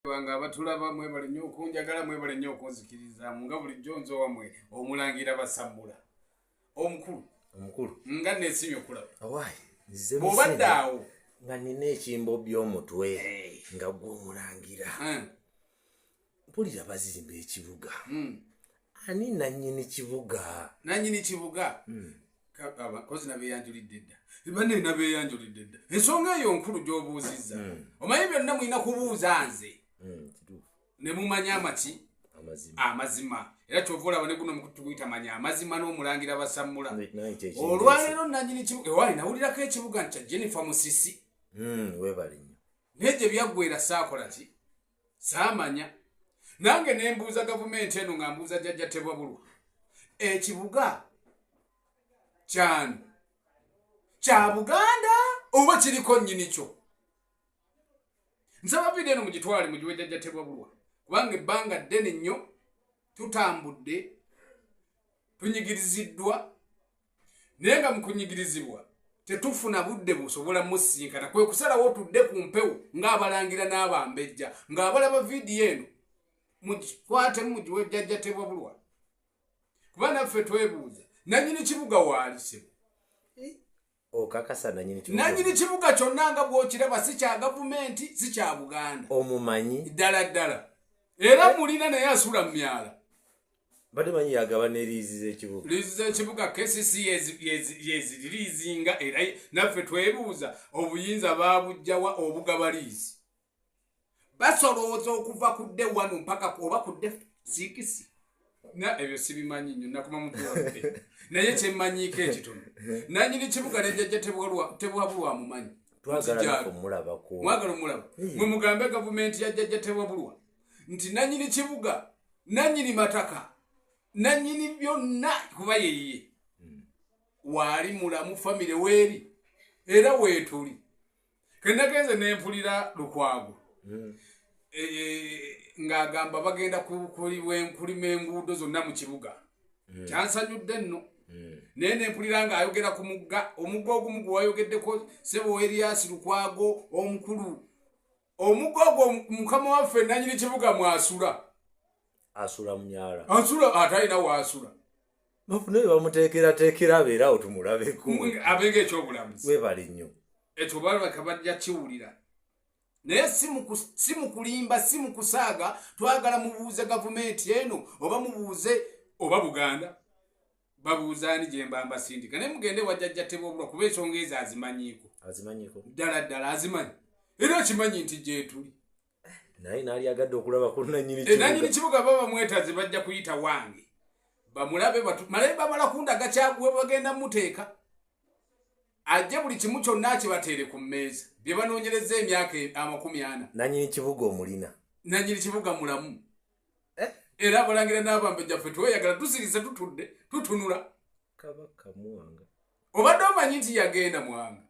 bange abatulaba mwebale nnyo okunjagala mwebale nnyo okunzikirizamu nga bulijjo nze wamwe omulangira basammula omukulu omukulu nga nesimye okulaba bwobadde awo nga nina ekimbo by'omutwe nga gwomulangira hmm. mpulira bazimba ekibuga hmm. ani nanyini kibuga nanyini kibuga hmm. kozi nabeyanjulidde dda bane nabeyanjulidde dda ensonga eyo nkulu gyobuuzizza hmm. omanyi byonna mulina kubuuza nze nemumanya amaki amazima era kyova olaba neguno mukutuguyita manya amazima n'omulangira basammula olwaleero nanyini kibuga ewali nawulirako ekibuga nti kya jennifer musisi webale nyo naye gye byaggwera saakola ki saamanya nange ne mbuuza gavumenti eno nga mbuuza jajja tebwabulwa ekibuga kyani kya buganda oba kiriko nnyini kyo nsaba vidiyo eno mugitwale mugiwe jajja tebwabulwa kubanga ebbanga ddene nnyo tutambudde tunyigiriziddwa naye nga mukunyigirizibwa tetufuna budde busobola musinkana kwe kusalawo tudde ku mpewo ng'abalangira n'abambejja ng'abalaba vidiyo eno mugikwatemu mugiwe jjajja tebwabulwa kuba naffe twebuuza nanyini kibuga waali sibu okakasa nanyini kibuga nanyini kibuga kyonna nga bw'okiraba si kya gavumenti si kya buganda omumanyi ddala ddala era mulina naye asula mu myala mbadde manyi yagaba ne liizi z'ekibuga liizi z'ekibuga kcc yeziririizinga era naffe twebuuza obuyinza baabujjawa obugaba liizi basolooza okuva ku dde wano mpaka oba ku dde siikisi na ebyo sibimanyi nyo nakuma mutuwae naye kyemmanyiiko ekitono nanyini kibuga nejajja tebwabulwa mumanyi mwagala omulaba mwe mugambe gavumenti yajjajja tebwabulwa nti nanyini kibuga nanyini mataka nanyini byonna kuba yeyiye hmm. waali mulamu famire weeri era weetuli kenagenze nempulira lukwago hmm. e, e, ng'agamba bagenda kulima enguudo zonna mu kibuga hmm. kyansanyudde nno naye nempulira nga ayogera ku mugga omugga ogumu gwe wayogeddeko sebo eriasi lukwago omukulu omugo ogwo mukama waffe nanyini kibuga mwasula asula munyala asula atalina waasula naye bamuteekerateekera abeeraawo tumulabeko abenga ekyobulamuzi webali nnyo ekyo balabaka bajja kiwulira naye si mu kulimba si mu kusaaga twagala mubuuze gavumenti eno oba mubuuze oba buganda babuuza ani gyemba mbasindika naye mugende wajajja tebobulwa kuba ensonga ezo azimanyiiko azimanyiiko ddala ddala azimanyi era okimanyi nti gyetuli naye naali agadde okulaba ku nanyini eh, kibuga baba mwetazi bajja kuyita wange bamulabe malaye bamala kundaga kyaguwe bagenda muteeka ajje buli kimu kyonna akibateere ku mmeeza bye banoonyereza emyaka amakumi ana nanyini kibuga omulina nanyini kibuga mulamu eh? era abalangira n'abambejja ffe tweyagala tusirise tutudde tutunula kabaka mwanga obadde omanyi nti yagenda mwanga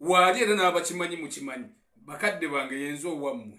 waali era n'abakimanyi mukimanyi bakadde bange yenze owammwe